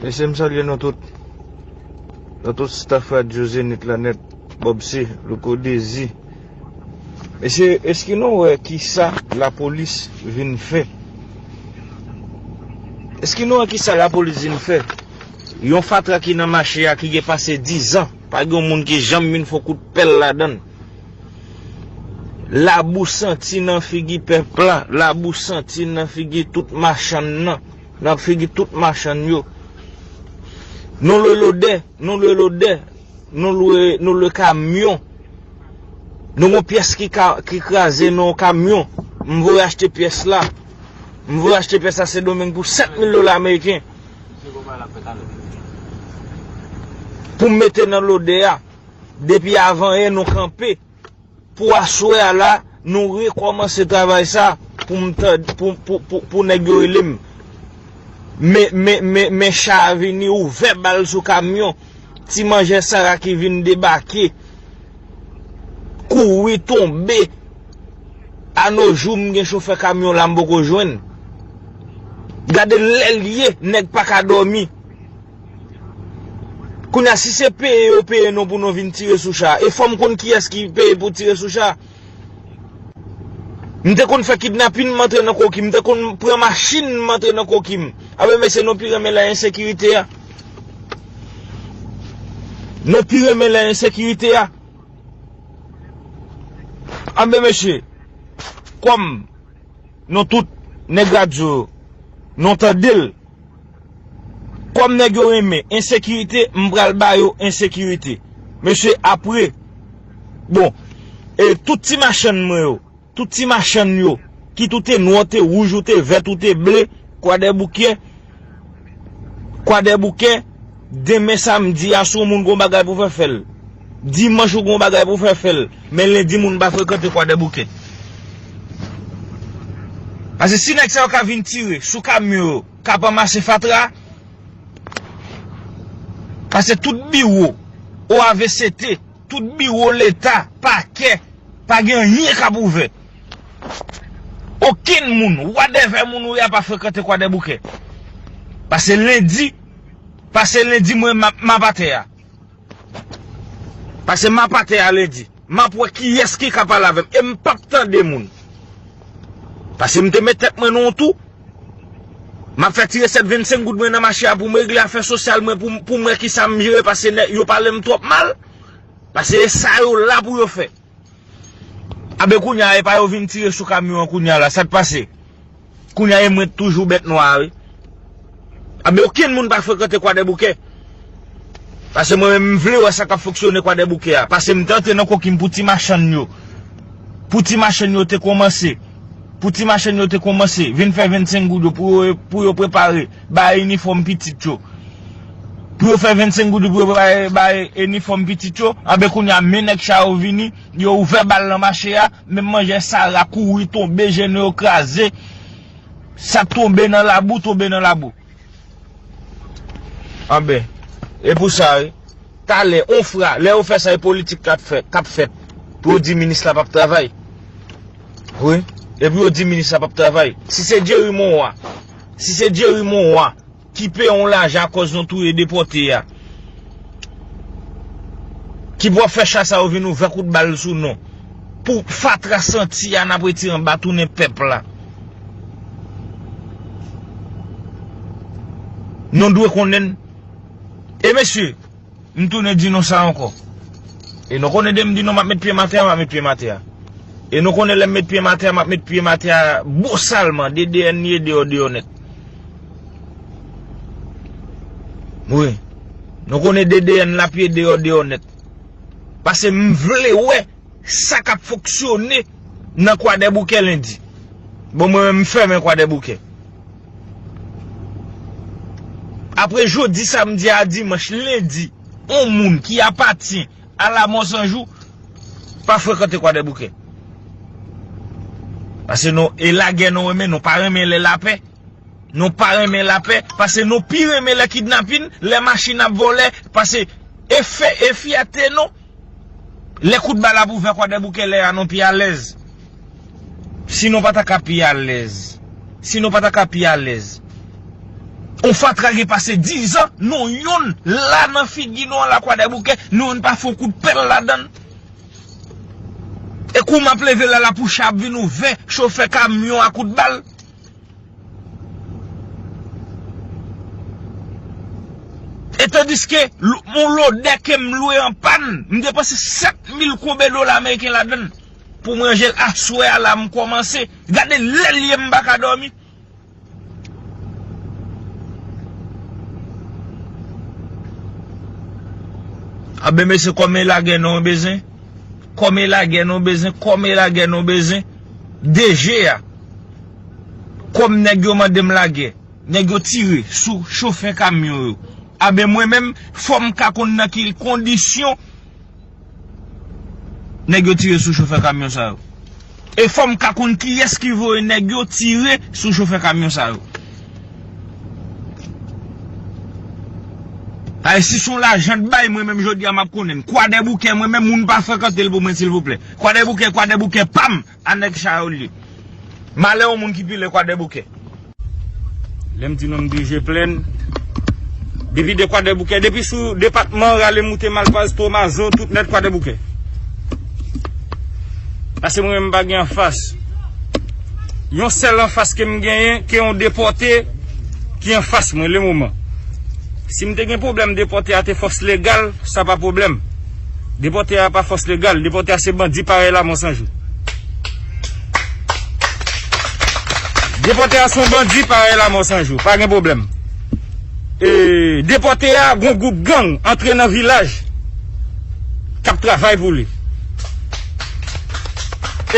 Mesye m salye nou tout Nan tout staff radyo zenith la net Bobse, louko dezi Mesye eske nou wè kisa lapolis vin fè Eske nou wè kisa lapolis vin fè Yon fatra ki nan mache a ki gen pase 10 an Pa gen yon moun ki janm vin fon kout pèl ladann Labou santi nan figi pèp la Labou santi nan figi tout machann nan. Nan figi tout machann yo. Nou lwe lodè, nou lwe lodè, nou lwe, nou lwe kamyon. Nou gon pyès ki ka, ki kraze nan yon kamyon. M voye achte pyès la. M voye achte pyès la Sendomeng pou 7 mil dola ameriken. Pou m mete nan lodè a. Depi avanyen nou kanpe. Pou aswè a la, nou rekòmanse travay sa pou nèg yo rele m. Men cha a vini ouvè bal sou kamyon. Ti manjè Sara ki vin debake kouri tonbe. Anojou m gen chofè kamyon la m poko jwenn. Gade lè l ye nèg pa ka dòmi. Kounya si se peye yo peye nou pou nou vin tire sou cha e fòm konn kiyès ki peye pou tire sou cha. M te konn fè kidnapin m antre nan koki m te konn pran machin m antre nan koki m. A be mesye nou pi renmen lè ensekirite a. Nou pi renmen lè ensekirite a. A be mesye kòm nou tout nèg radyo nou tande l. Kom neg yo renmen ensekirite m pral ba yo ensekirite mesye apre bon e tout ti machann mwen yo tout ti machann yo kit ou te nwa ou te rouj ou te vèt ou te ble kwadèboukè kwadèboukè demen samdi a si w moun gon bagay pou fè fè l dimanch ou gon bagay pou fè fè l men lendi moun pa frekante kwadèboukè pase si neg sa yo ka vin tire sou kamyon yo. Kap ranmase fatra a. Pase tout biwo OAVCT, tout biwo leta, pakè, pa gen anyen kap ouvè. Okenn moun, wadèvè moun ou ye a pa frekante kwadèboukè. Pase lendi, pase lendi mwen map atè a. Pase m ap atè a lendi. M ap wè kiyès ki ka pale avè m. E m p ap tande moun. Pase m te met tèt mwen nan yon tou. M ap fè ti resèt 25 goud mwen nan mache a pou m regle afè sosyal mwen pou m wè kisa m jere pase yo pale m twòp mal. Pase e sa yo la pou yo fè. Abe kounya epa yo vin tire sou kamyon an kounya la sak pase kounya e mwen toujou bèt nwa a wi abe okenn moun pa frekante kwadèboukè pase mwen menm m vle wè sa kap fonksyone kwadèboukè a pase m te antre nan kokim pou ti machann yo pou ti machann yo te kòmanse pou ti machann yo te kòmanse vin fè 25 goud yo pou yo prepare Bay inifòm pitit yo. Pou yo fè 25 goud pou yo bay inifòm pitit yo, anben kounya men nèg cha yo vini, yo ouvè bal nan mache a, men manjè sara kouri tonbe jene yo kraze, sak tonbe nan labou tonbe nan labou. Anben, e pou sa wi. Talè, on fra, lè yo fè sa e politik kap fèt, kap fèt. Pou yo di minis la pap travay. Wi, e pou yo di minis la pap travay. Si se Jerry Monroy Si se Jerry Monroy ki peye yon lajan akòz nou touye depòte a, ki pou ap fè cha sa yo vin ouvè kout bal sou nou, pou fatra santi a n ap retire anba tounen pèp la. Nou dwe konnen. E mesye! M tounen di nou sa ankò. E nou konnen de m di nou m ap met pye m atè a, m ap met pye m atè a. E nou konnen lè m met pye m atè a, m ap met pye m atè a bosalman, de deyè ni e deyò deyò nèt. Wi. Nou konnen de deyè n lap ye deyò deyò nèt. Pase m vle wè sa k ap fonksyone nan kwadèboukè lendi. Bon mwen menm m fèmen kwadèboukè. Apre jodi samdi a dimanch lendi, yon moun ki apatyen a la mò san jou pa frekante kwadèboukè. Pase nou e lagè nou renmen, nou pa renmen lè lapè. Nou pa renmen lapè, pase nou pi renmen lè kidnapin, lè machin ap vòlè, pase e fè e fyète nou. Lè kout bal ap ouvè kwadèboukè lè a nou pi alèz si nou pa ta ka pi alèz si nou pa ta ka pi alèz on fatra gen pase 10 an nou youn la nan figi nou an la kwadèboukè nou youn pa fon kout pèl ladan l e kou map leve la la poucha ap vin ouvè chofè kamyon a kout bal. E tandiske, yon lodè ke m lwe an pann, m depanse 7000 koube dola ameriken ladann pou m ranje l aswè a la m kòmanse. Gade lè l ye m pa ka dòmi. Anben mesye kòm e lagè nou bezwen, kòm e lagè nou bezwen, kòm e lagè nou bezwen. DG a, Kòm nèg yo mande m lagè, nèg yo tire sou chofè kamyon yo, anben mwen menm fò m ka konn nan ki kondisyon nèg yo tire sou chofè kamyon sa yo. E fò m ka konn kiyès ki voye nèg yo tire sou chofè kamyon sa yo. Ay si s on lajan t bay mwen menm jodi a m ap konnen. Kwadèboukè mwen menm moun pa frekante l pou mwen silvouplè. Kwadèboukè kwadèboukè pam a nèg chayolye malè yon moun ki pile kwadèboukè. Lèm di nou m bije plenn. Depi de kwadèboukè depi sou depatman rale moute malpaz tomazo tout nèt kwadèboukè. Pase mwen menm m pa gen anfas. Yon sèl anfas ke m genyen ke yon depòte ki anfas mwen le moman. Sim te gen pwoblèm depòte a te fòs legal sa pa pwoblèm. Depòte a pa fòs legal, depòte a se bandi parèy lamò sanjou. Depòte a son bandi parèy lamò sanjou, pa gen pwoblèm. E depòte a gon gwoup gang antre nan vilaj kap travay pou li.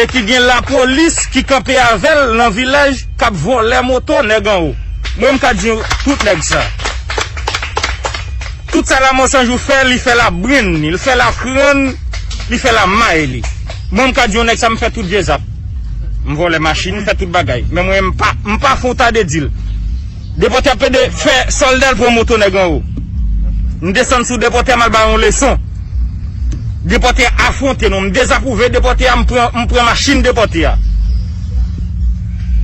E ki gen lapolis ki kanpe avèl nan vilaj kap vòlè moto nèg anwo. Mwen m ka di tout nèg sa. Tout sa la mansanjou fè li fè la brenn li l fè la krann li fè la may li mwen m ka di yon nèg sa m fè tout vye zak m vòlè machin m fè tout bagay men mwen m pa m pa fon ta de di l depòte ap pede fè sòlda l pran moto nèg anwo m desann sou depòte a m al ba l yon leson depòte a afwonte nou m dezapwouve depòte a m pran m pran machin depòte a.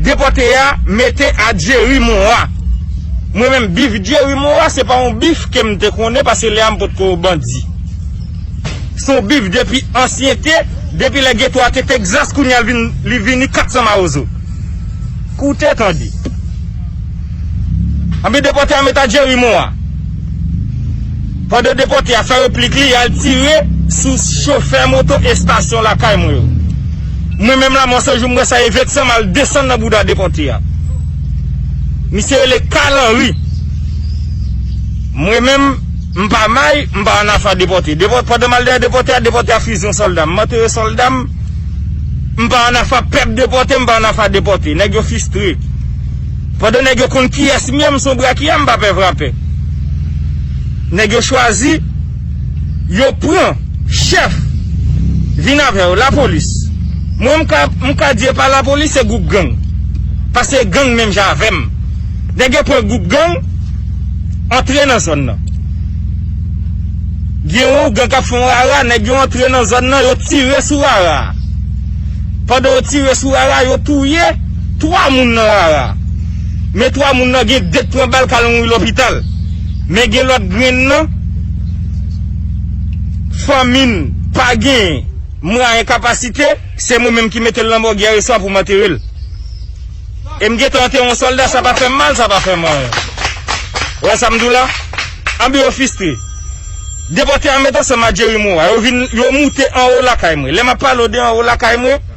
Depote a mete a Jerry Moa. Mwen menm bif Jerry Moa se pa yon bif ke m te konnen pase lè a m pot ko bandi. Se yon bif depi ansyente, depi lè geto a te Texas kounye a li vini 400 mawozo. Koute tande. Anpi depòte a met a Jerry Moa. Pandan depòte a fè replik li, al tire sou chofè moto estasyon lakay mwen yo. Mwen menm la Monson jou m wè sa e vèt san m al desann nan bouda depòte a. Misye rele Carl Henry. Mwen menm, m pa may, m pa annafè a depòte. Depò, pandan m al dèyè depòte a, depòte a fizi yon sòlda. M antere sòlda m, m pa annafè a pèp depòte, m pa annafè a depòte. Nèg yo fistre. Pandan nèg yo konn kiyès m ye m son brakyè m pa pè vrapè. Nèg yo chwazi yo pran chèf vin avè yo lapolis mwen m ka m ka di epa lapolis se gwoup gang pase gang menm jan avè m nèg yo pran gwoup gang antre nan zòn nan gen yon ougan k ap fè yon rara nèg yo antre nan zòn nan yo tire sou rara a pandan yo tire sou rara a yo touye 3 moun nan rara men 3 moun nan gen 2 k pran bal kal mouri lopital men gen lòt grenn nan fanmi n pa gen mwayen kapasite se mwen menm ki mete l nan mòg yè swa pou m antere l e m gentan antere yon sòlda sa pa fè m mal sa pa fè m anyen ou wè sa m di w la anben yo fistre depòte a met ansanm a Jerry Moa yo vin yo moute anwo lakay mwen lè m ap pale w de anwo lakay mwen.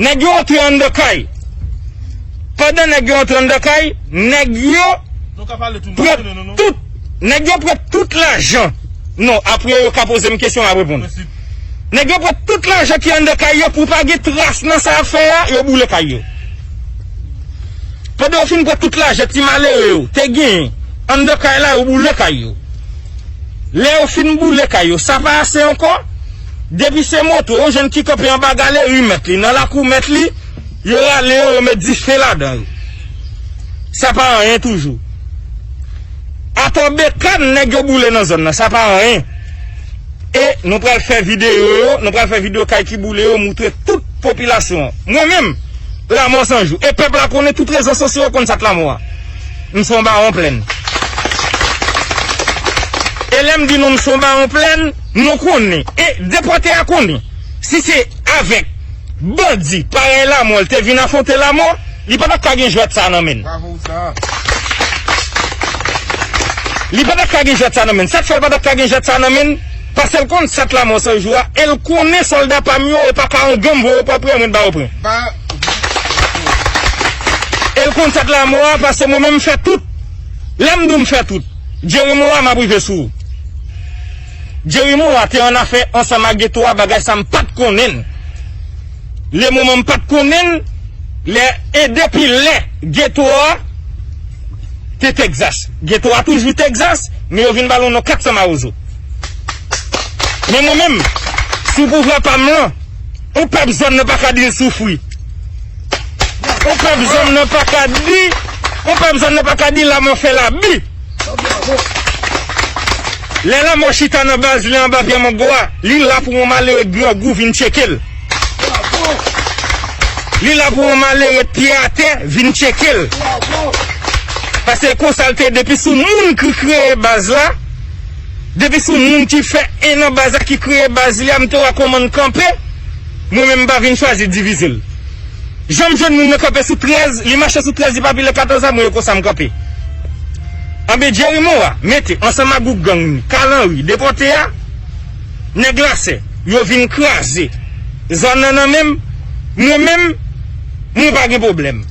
Nèg yo antre anndan kay. Pandan nèg yo antre anndan kay, nèg yo pran tout Nèg yo pran tout lajan Non, apre yo ka poze m kesyon, m ap reponn Nèg yo pran tout lajan ki anndan kay yo pou pa gen tras nan sa y ap fè a, yo boule kay yo Pandan yo fin pran tout lajan ti malere yo te genyen anndan kay la, yo boule kay yo Lè yo fin boule kay yo, sa pa ase ankò? Depi se moto, yon jèn ki kanpe anba galeri mèt li, nan lakou mèt li, yo rale yo, yo met dife ladan yo. Sa pa anyen toujou. Atò bekàn nèg yo boule nan zòn nan, sa pa anyen. E nou pral fè videyo yo, nou pral fè videyo kay ki boule yo, moutre tout popilasyon an. Mwen menm, Lamò San Jou. E pèp la konnen, tout rezo sosyo yo konn sa k Lamò a. M son bawon plèn. E lè m di nou m son bawon plèn. Nou konnen e depòte a konnen si se avèk bandi parèy lamò l te vin afwonte lamò, li pa t ap ka gen jwèt sa a nan men l. Li pa t ap ka gen jwèt sa a nan men l. Sa k fè l pa t ap ka gen jwèt sa a nan men l? Pase l konn sat lamò san jou a e l konnen sòlda pa m yo e pa ka yon gang voye pran pran mwen t ba yo pran. E l konn sat lamò a pase mwen menm m fè tout. Lè m di w m fè tout, Jeremie Roy m ap rive sou ou. Jerry Moa te an afè ansanm ak Getho a bagay sa m pat konnen l le moman m pat konnen l lè e depi lè Getho a te Texas Getho a toujou Texas men yo vin ba l yon non 400 mawozo men mwen menm sou pouvwa pa m lan yon pèp zòn nan pa ka di l soufri yon pèp zòn nan pa ka di yon pèp zòn nan pa ka di laman fè labi. Lè lanmò chita nan baz li anba pye mango a, li la pou yon malere grangou vin tcheke l. Li la pou yon malere pye atè vin tcheke l. Pase konsa l te ye depi sou moun ki kreye baz la, depi sou moun ki fè 1 nan baz la ki kreye baz li a m te wè kòman n kanpe, mwen menm m pa vin chwazi divize l. Janm jwenn moun nan kanpe sou 13 li mache sou 13 li pa pile 14 a mwen yo konsa m kanpe anbe Jerry Moa mete ansanm ak gwoup gang ni Carl Henry depòte a nèg lasè yo vin kraze zòn nan nan menm mwen menm mwen pa gen pwoblèm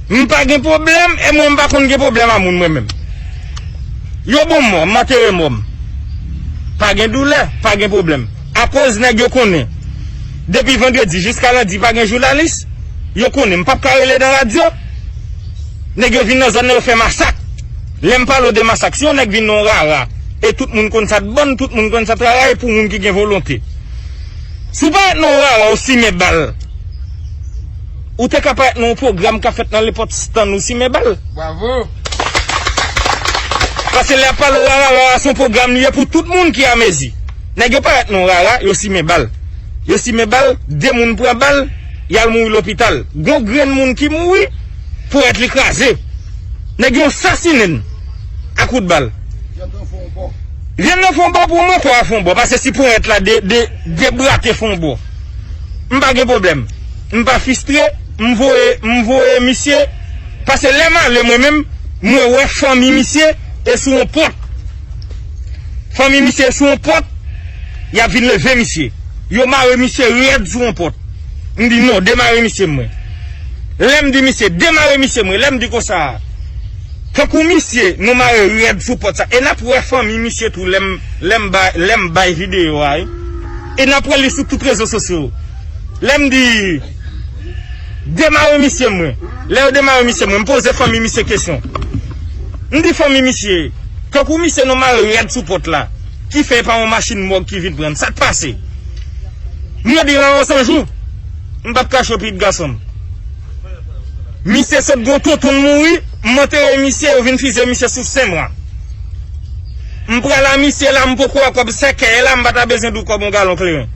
m pa gen pwoblèm e mwen m pa konn gen pwoblèm a moun mwen menm yo bon mò m antere mò m pa gen doulè pa gen pwoblèm. Akoz nèg yo konnen depi vandredi jiska lendi pa gen jounalis, yo konnen m pap ka rele nan radyo. Nèg yo vin nan zòn nan yo fè masak. Lè m pale w de masak, si yon nèg vin nan yon rara e tout moun konn sa t bon, tout moun konn sa t rara e pou moun ki gen volonte. Si w pa ret nan yon rara ou simen bal, ou te ka pa ret nan yon pwogram k ap fèt nan lenpòt stann ou simen bal. Pase lè y ap pale w rara, rara se yon pwogram li ye pou tout moun ki amezi. Nèg yo parèt non rara yo simen bal yo simen bal 2 moun pran bal yal mouri lopital gon grenn moun ki mouri porèt li kraze nèg yo sasinenn a kout bal vyann nan fon bò pou mwen kò a fon bò pase si porèt la debrake fon bò m pa gen problèm m pa fistre m voye m voye misye pase lèm ale mwen menm mwen wè fanmi misye e sou yon pòt. Fanmi misye sou yon pòt, y ap vin leve misye. Yo mare misye rèd sou yon pòt. M di, non, demare misye mwen. Lè m di misye, demare misye mwen, lè m di konsa a, tankou misye nou mare rèd sou pòt sa, e n ap wè fanmi misye tou lè m, lè m bay, lè m bay videyo a, e n ap wè li sou tout rezo sosyo. Lè m di. Demare misye mwen lè yo demare misye mwen m poze fanmi misye kesyon m di fanmi misye tankou misye nou mare rad sou pòt la ki fè e pa yon machin mòg ki vin pran n sak pase m ap di Raon san jou m pap kache pitit gason m misye sot gen tontonl mouri m antere misye yo vin fizye misye sou sen mwa m pral a misye la m poko wè kòb sèkèy la m pa ta bezwen di w kòb yon galon kleren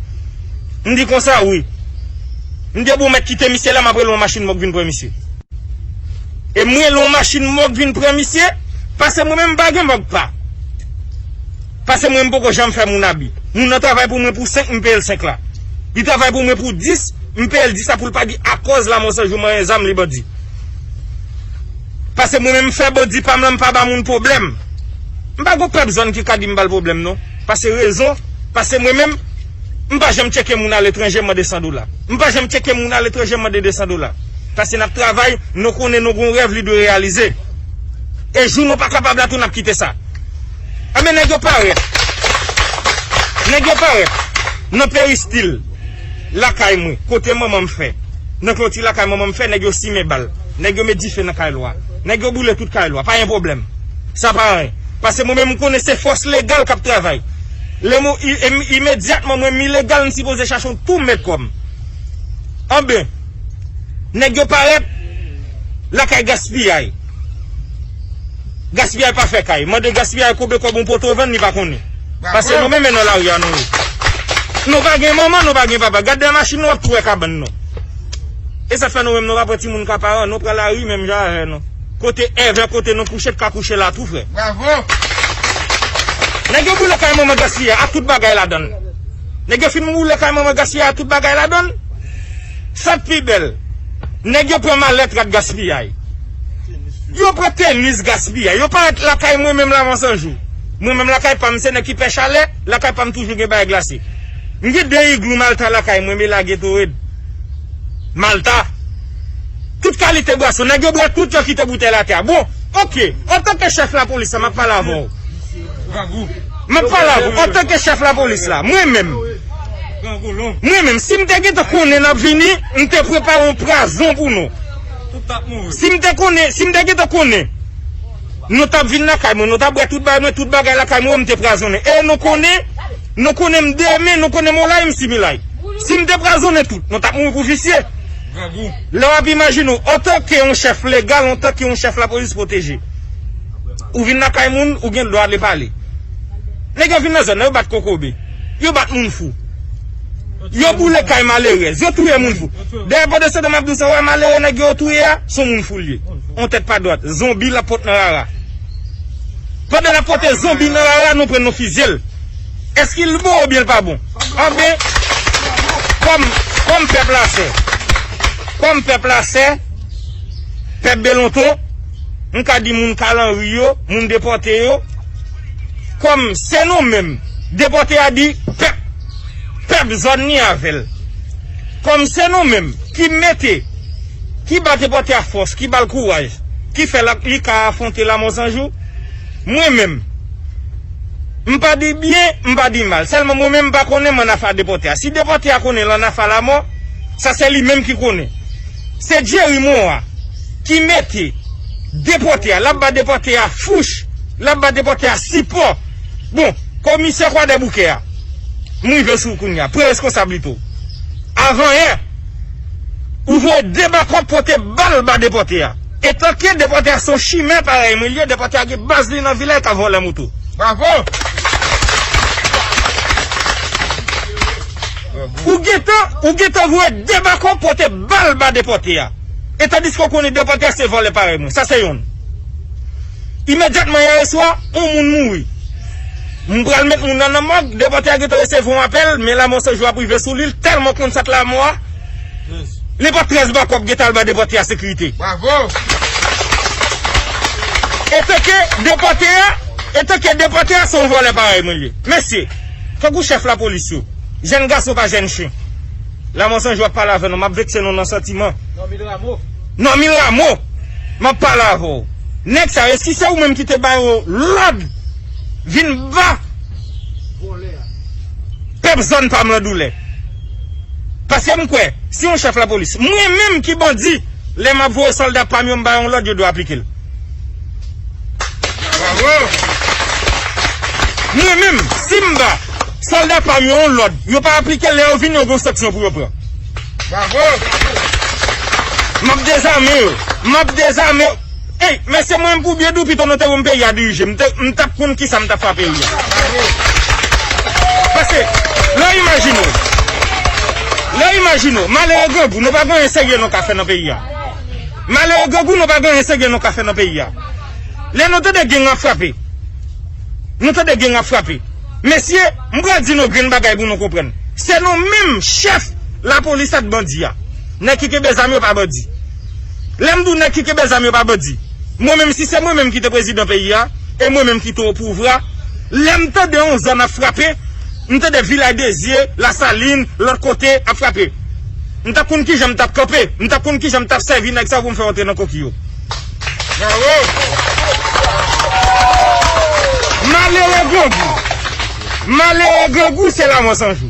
m di konsa wi. Mnde bou mèt kite misye la map rele yon machin mòg vin pran misye. E m rele yon machin mòg vin pran misye pase mwen menm m pa gen mòg pa pase mwen m poko janm fè moun abi. Moun nan travay pou mwen pou 5 m peye l 5 la. Li travay pou mwen pou 10 m peye l 10 la pou l pa di akòz lamò san jou manyen zam li bandi. Pase mwen menm m fè bandi pa m lan m pa ba moun pwoblèm. M pa gen yon pèp zòn ki ka di m ba l pwoblèm non. Pase rezon pase mwen menm. M pa janm tcheke moun aletranje mande 100 dola. M pa janm tcheke moun aletranje mande 200 dola. Pase n ap travay, nou konnen nou gen yon rèv li dwe reyalize. E jou nou pa kapab la tou n ap kite sa. Enben nèg yo parèt. Nèg yo parèt nan peristil lakay mwen, kote manman m fè. Nan kloti lakay manman m fè, nèg yo simen bal. Nèg yo met dife nan kay lwa. Nèg yo boule tout kay lwa. Pa gen pwoblèm. Sa pa anyen. Pase mwen menm m konnen se fòs legal k ap travay. Lèm ou imedyatman mwen m ilegal m sipoze chache yon poum met kòm anben nèg yo parèt lakay gaspiyay gaspiyay pa fè kay mande gaspiyay konbe kòb yon poto vann li pa konnen pase nou menm e nan lari a nou ye nou pa gen manman nou pa gen papa gad dèyè machin nou wap tou wè kabann nou esat fè nou menm nou pa pran timoun ka paran nou pran lari menm jan avè nou. Kote ever kote nou kouche t ka kouche la tou frè. Bravo. Nèg yo boule kay manman Gasly a ak tout bagay ladann. Nèg yo fin boule kay manman Gasly a ak tout bagay ladann. Sak pi bèl nèg yo pran malèt rad gaspiyay. Yo pran tenis gaspiyay. Yo parèt lakay mwen menm la vansan jou. Mwen menm lakay pam se nèg ki pè chalè, lakay pam toujou gen bagay glase. M gen 2 iglou malta lakay mwen me lage to red. Malta. Tout kalite bwason. Nèg yo bwè tout yo kite boutèy l atè a. Bon, ok, antanke chèf lapolis la, m ap pale avè w. M ap pale avè w antanke chèf lapolis la. Mwen menm, mwen menm, si m te gentan konnen n ap vini, m te prepare yon prazon pou nou. Si m te konnen, si m te gentan konnen nou t ap vin lakay mwen, nou t ap bwè tout bagay mwen, tout bagay lakay mwen yo, m te prazonnen. E nou konnen, nou konnen m demen, nou konnen m olay, m similay. Si m te prazonnen tout, nou t ap mouri pou visye. grangou. Lè w ap imajine w antanke yon chèf legal, antanke yon chèf lapolis pwoteje. Ou vin lakay moun, ou gen dwa ale pale. Nèg yo vin nan zòn nan, yo bat kokobe, yo bat moun fou, yo boule kay malerèz, yo touye moun fou. Dèyè pòt de sante m ap di w sa, ou wè malere nèg yo yo touye a, s on moun fou l ye. On tèt pa dwat. Zonbi l ap pot nan rara. Pandan l ap pote zonbi nan rara, nou pran nou fizye l. Eske l bon oubyen l pa bon? Anben, kòm pèp la sè, kòm pèp la sè, pèp Belonton, m ka di moun Kalanri yo, moun depòte yo, kòm se nou menm, depòte a di pèp, pèp zòn li avè l, kòm se nou menm ki mete, ki ba depòte a fòs, ki ba l kouraj, ki fè li ka afwonte lamò san jou, Mwen menm. M pa di byen, m pa di mal. Sèlman mwen menm m pa konnen mann afa depòte a. Si depòte a konnen lann afa lamò, sa se li menm ki konnen. Se Jerry Moa ki mete depòte a. L ap ba depòte a fouch. L ap ba depòte a sipò. Bon, komisè Kwadèboukè a, m rive sou ou kounye a. Pran reskonsablite w. Avanyè, ou voye de bakòp pote bal ba depòte a. Etanke depòte a son chimè parèy mwen li ye depòte a gen baz li nan vil la e ka vòlè moto. Bravo! Ou gentan ou gentan voye debako pote bal ba depòte a e tandiske ou konnen depòte a se vòlè parèy mwen sa se yonn imedyatman yè eswa on moun mouri m pral met moun nan nan mòg depòte a gentan resevwa on apèl men lamò se jou ap rive sou li l tèlman konn sa k lamò a. Li pa 13 bako ap gentan al ba depòte a sekirite. Etanke depòte a, etanke depòte a se yon vòlè parèy mwen ye. Mesye, tankou chèf lapolis yo, jèn gason pa jèn chen. Lamò San jou ap pale avè nou, m ap vekse nou nan santiman. Normil Rameau. Normil Rameau, m ap pale avè w. Nèg sa yo, eski se ou menm ki te ba yo lòd vin ba pèp zòn pa m lan doulè? Paske m kwè, si yon chèf lapolis, mwen menm ki bandi, lè m ap voye sòlda pa m yo m ba yo yon lòd, yo dwe aplike l. Mwen menm, si m ba sòlda pa m yo yon lòd, yo pa aplike l, lè yo vini yo gen yon sanksyon pou yo pran. M ap dezame yo. M ap dezame. Hey men se mwen pou byen di w pito nou te wè m peyi a dirije m te m tap konn kisa m tap fè a peyi a paske lè imajine w lè imajine w malere grangou nou pa gen anyen serye nou ka fè nan peyi a malere grangou nou pa gen anyen serye nou ka fè nan peyi a lè nou tande geng ap frape nou tande geng ap frape mesye m pral di nou grenn bagay pou nou konprann se nou menm chèf lapolis ak bandi a nèg ki kenbe zam yo pa bandi. Lè m di w nèg ki kenbe zam yo pa bandi, mwen menm si se mwen menm ki te prezidan peyi a, e mwen menm ki te opouvra, lè m tande yon zam ap frape, m tande Vilay Dezye, Lasalin, lòt kote ap frape, m t ap konn kijan m t ap kanpe, m t ap konn kijan m t ap sèvi nèg sa yo pou m fè rantre nan koki yo. Malere grangou, malere grangou se lamò san jou.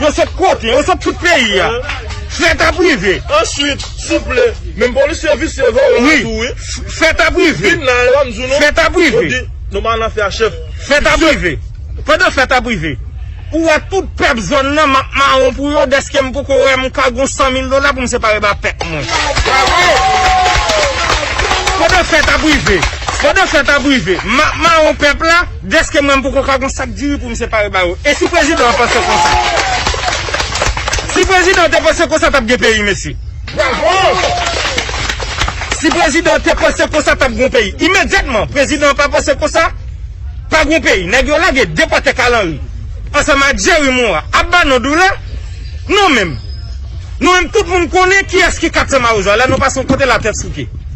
Yo sot kote? Yo sot tout peyi ya. Fèt ap rive. Answit, souple, menm polisye visye vòlò a tou wi. Fèt ap rive. Vin la e banm di nou. Fèt ap rive. Yo di nou pa al nan fè a chèf. Fèt ap rive. Pandan fèt ap rive. Ou wè tout pèp zòn nan map mawon pou yo dèske m poko wè m ka gon 100 mil dola pou m separe ba pèp mwen. Pandan fèt ap rive. Pandan fèt ap rive. Map mawon pèp la. Deske mwen m poko ka gon sak diri poum separe ba yo esi prezidan an panse konsa si prezidan an te panse konsa tap gen peyi mesye si prezidan an te panse konsa tap gon peyi imedyatman prezidan an pa panse konsa pa gon peyi nèg yo lage depòte kalanri ansanm ak Jerry moa ap ba nou doulè nou menm nou menm tout moun konnen kiyès ki 400 mawozo ala nou pase yon kote la tèt souke.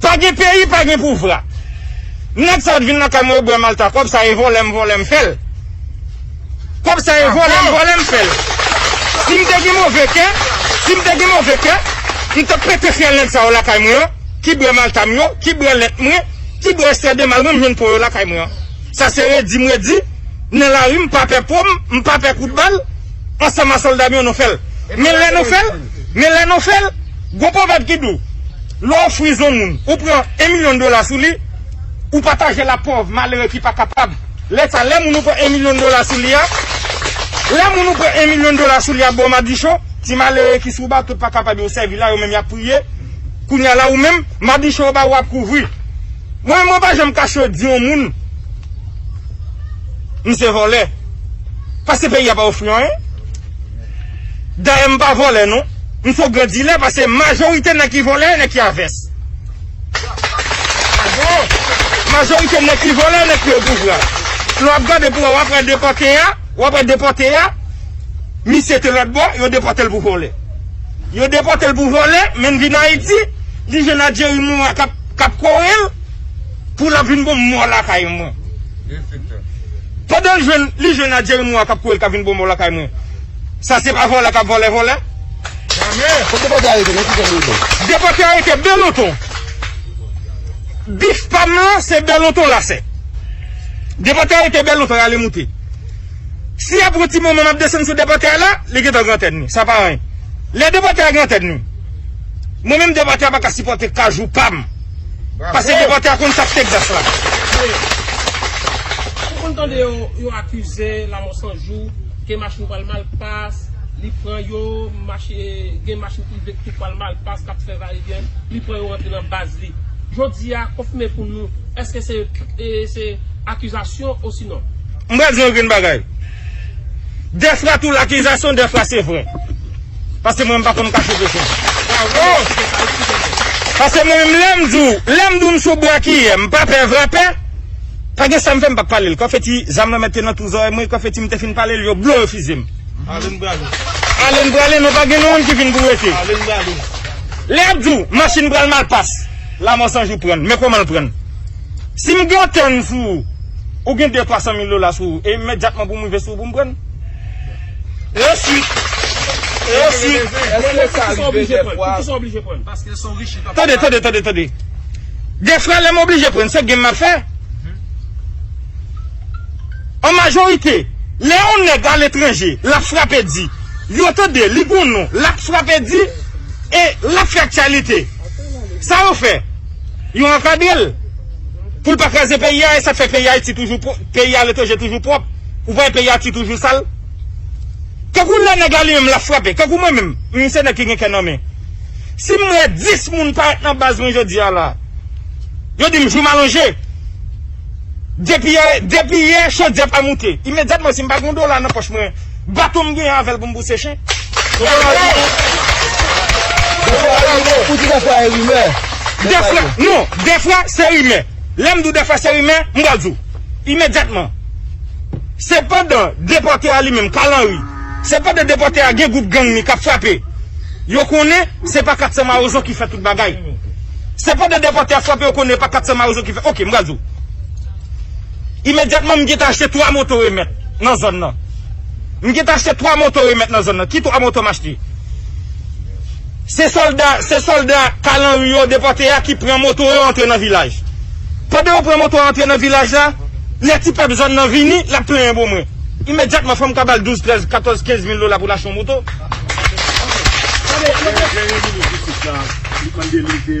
Pa gen peyi pa gen pouvra. Nèg sa yo t vin lakay mwen yo bwè malta kòb sa e vòlè m vòlè m fèl kòb sa e vòlè m vòlè m fèl si m te gen move kè si m te gen move kè m tap pete fyèl nèg sa yo lakay mwen an ki bwè malta m yo ki bwè lèt mwen ki bwè estè de mal mwen m jwenn po yo lakay mwen an sa se redi m redi nan lari m pa pè po m m pa pè kout bal ansanm a sòlda m yo nou fèl men lè nou fèl men lè nou fèl Gon pwovèb ki dou, lè w fri zon moun, ou pran 1 milyon dola sou li, ou pataje l ak pòv, malere ki pa kapab. Lè sa, lè moun ou pran 1 milyon dola sou li a, lè moun ou pran 1 milyon dola sou li a bo madichon, ti malere ki sou bato pa kapab yo sèvi la, yo menm y ap priye. Kounye a la ou menm, madichon yo ba ou ap kouvri. Mwen menm mwen pa janm kache yo di yon moun misye vòlè. Paske peyi a pa ofri anyen. Dayè m pa vòlè non. M son gran dilè pase majorite nèg ki vòlè, nèg ki a vès. Majorite nèg ki vòlè, nèg ki o pouvwa. Lè w ap gade pou wè w ap wè depòte a, w ap wè depòte a, misye te lòt bò, yo depòte l pou vòlè. Yo depòte l pou vòlè, men l vin Ayiti, li jwenn a Jerry Morin k ap kore l pou l ap vin bon m mò lakay mwen. Pandan l jwenn li jwenn a jeremi wan kap kourel ka vin bonbon lakay mwen sa se pa vòlè kap vòlè vòlè. Fok depòte arete nan kifèm retou. Depòte arete bèlonton bif pam lan se bèlonton lasè depòte arete bèlonton ale moute si a pran ti moman map desann sou depòte a la li gentan gran tèt ni sa pa anyen lè depòte a gran tèt ni mwen menm depòte a paka sipòte kajou pam. Pase depòte a konn sak Texas la. Ou konn tande yo yo akize lamò san jou ke machin pral mal pas li pran yo mache gen machin prive k tou pral mal pas kap fè va e vyen li pran yo rantre nan baz li jodi a konfime pou nou eske se se akizasyon osinon. M pral di w yon grenn bagay. Defra tou lakizasyon defra se vre paske mwen m pa konn kache peche paske mwen menm lèm di w lèm di w m sou brakiyè m pa pè vrapè pa gen sam fè m pa pale l konfeti zam lan mèt te nan tou zòrèy mwen konfeti m te fin pale l yo blo yo fize m ale n prale ale n prale non pa gen nou moun ki vin pou rete ale n prale lè yap di w machin pral mal pas lamò sanjou pran n men kòman l pran n si m gen yon tèn sou ou. Ou gen de twa san mil dola sou ou, e imedyatman pou m rive sou ou pou m pran l? E ensuit? E ensuit? Mwen mwen pou kisa w oblije pran l? Pou kisa w oblije pran l? Paske se w richi papa. Tande, tande, tande, tande. Defwa lè m oblije pran l, se game m ap fè. An majorite, lè yon nèg aletranje, l ap frape di, yo tande, li gen yon non, l ap frape di, e l ap fè aktyalite. Sa yo fè? Yo ankadre l. Poul pa kraze peyi a esak fè peyi ayiti toujou peyi aletranje toujou pwòp ou pa wè peyi ayiti toujou sal tankou lè nèg la li menm lap frape tankou mwen menm m se nèg ki gen kè nan men sim wè 10 moun parèt nan baz mwen jodi a la yo dim jou m alonje depi yè depi yè chodyè pa moute imedyatman sim pa gen yon dola nan pòch mwen. Baton m gen avèl pou m pouse chen. Dèfra, non, dèfra se rimè. Lè m di w dèfra se rimè, m pral di w. Imedyatman. Se pandan depòte a li menm, Carl Henry, se pandan depòte a gen gwoup gang li k ap frape. Yo konnen se pa 400 mawozo ki fè tout bagay. Se pandan depòte a frape yo konnen e pa 400 mawozo ki fè. Ok, m pral di w. Imedyatman m gentan achte 3 moto remèt nan zòn nan. M gentan achte 3 moto remèt nan zòn nan. Ki 3 moto m achte? Se sòlda, se sòlda Kalanri yo depòte a ki pran moto yo antre nan vilaj. Pandan yo pran moto a antre nan vilaj la, lè ti pèp zòn nan vini, l ap plenyen bo mwen. Imedyatman fò m ka ba l 12, 13, 14, 15 mil dola pou l achte yon moto. Lè yon moun vin isit la, li mande li de.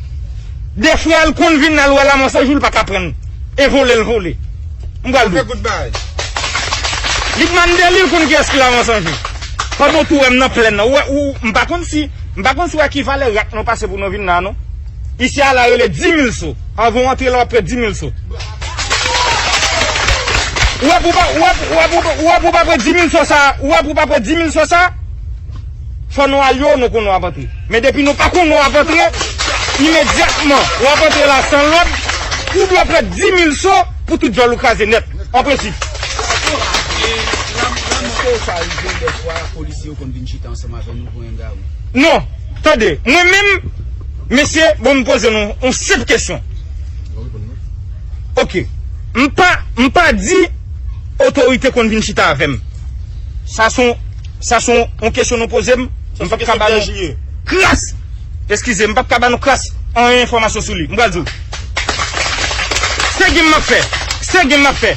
Defwa l konn vin al wè Lamò se jou l pa ka pran l e vole l vole. M pral di w. Li k mande li l konn kiyès ki Lamò se jou. Pandan w tou wè m nan plenn nan ou wè m pa konn si m pa konn si w wè ki valè rak nou pase pou nou vin la non. Isi a la rele dimil so. Anvan w antre la w ap pè dimil so. Ou wè pou w pa pè dimil so sa a? Fò nou al yo nou konnen wap antre. Men depi nou pa konnen wap antre, imedyatman wap antre la san lòd, ou dwe pran 10000 so pou tout djòl ou kraze nèt. An prensip. Eske sa rive dèfwa polisye yo konn vin chita ansanm avè nou pou yon gari? Non. Tande, mwen menm, mesye, bon m poze nou yon senp kesyon. Ok. M pa di otorite konn vin chita avè m. Sa son. Sa son on kesyon nou poze m. M pap ka ba nou kras, eskize, m pap ka ba nou kras on enfòmasyon sou li. M pral di w. Se gim m ap fè. Se gim m ap fè.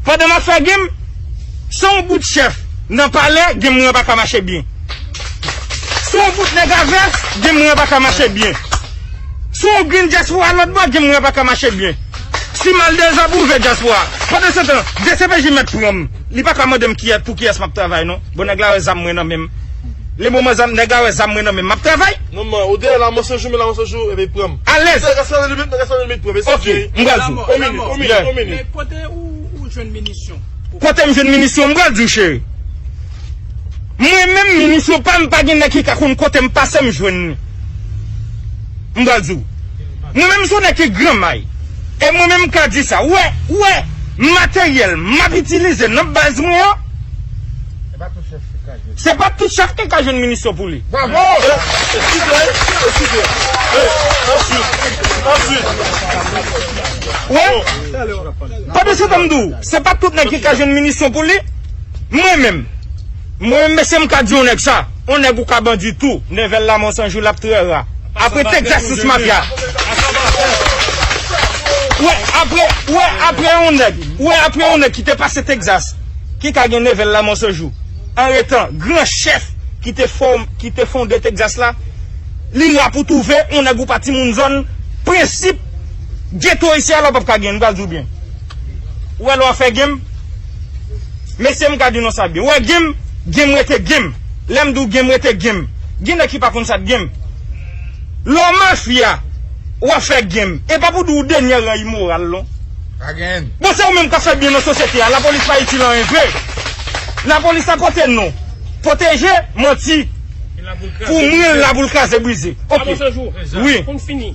Pandan m ap fè gim, se on bout chèf nan palè, gim mwen pa ka mache byen. Se on bout nèg a vès, gim mwen pa ka mache byen. Se on grenn dyaspora lòt bò, gim mwen pa ka mache byen. Si m al dezòb, ouvè dyaspora. Pandan se tan, dcpj mèt pran m. Li pa ka mandem kiyès pou kiyès map travay non bon nèg la wè zam mwen nan menm le moman zam nèg la wè zam mwen nan menm map travay. Non man ou deyè la mwen se jou men la mwen se jou epi pranm. Alèz. Nèg a sanzan limit nèg a sanzan limit pranm esi ok m pral di w. On minit on minit on minit. Men kote ou jwenn minisyon. Kotem jwenn minisyon m pral di w cheri. Mwen menm minisyon pam pa gen nèg ki ka konn kotem pasem jwenn li. M pral di w. Mwen menm son nèg ki gran may e mwen menm ka di sa wè wè materyèl map itilize nan baz mwen an se pa tout chak ki ka jwenn minisyon pou li. Wè pa de sa tanm di w se pa tout nèg ki ka jwenn minisyon pou li mwen menm. Mwen menm mesye mka di yon nèg sa, yon nèg ou ka bandi tou, nèvel la mons yon jou lap trè ra. Apre tek jastice mafya. Ou wè apre ou wè apre yon nèg ou wè apre yon nèg ki te pase Texas ki ka gen nevel la mons yon jou an etan gran chèf ki te fò ki te fonde Texas la li ra pou touve yon nèg ou pa timoun zòn prensip geto isi a lè w pap ka gen m pral di w byen ou wè lè w ap fè game Mesye m ka di nou sa byen. Ou wè game, game rete game. Lè m di w game rete game. Gen nèg ki pa konn sa k game. Lè w mafya, w ap fè game. E pa pou di w denyè ran imoral non. Pa gen. Bon se ou menm k ap fè byen nan sosyete a. Lapolis pa itil anyen vre. Lapolis la pote non. Pwoteje, manti. Pou mwen l la pou l kraze brize. Ok. Wi.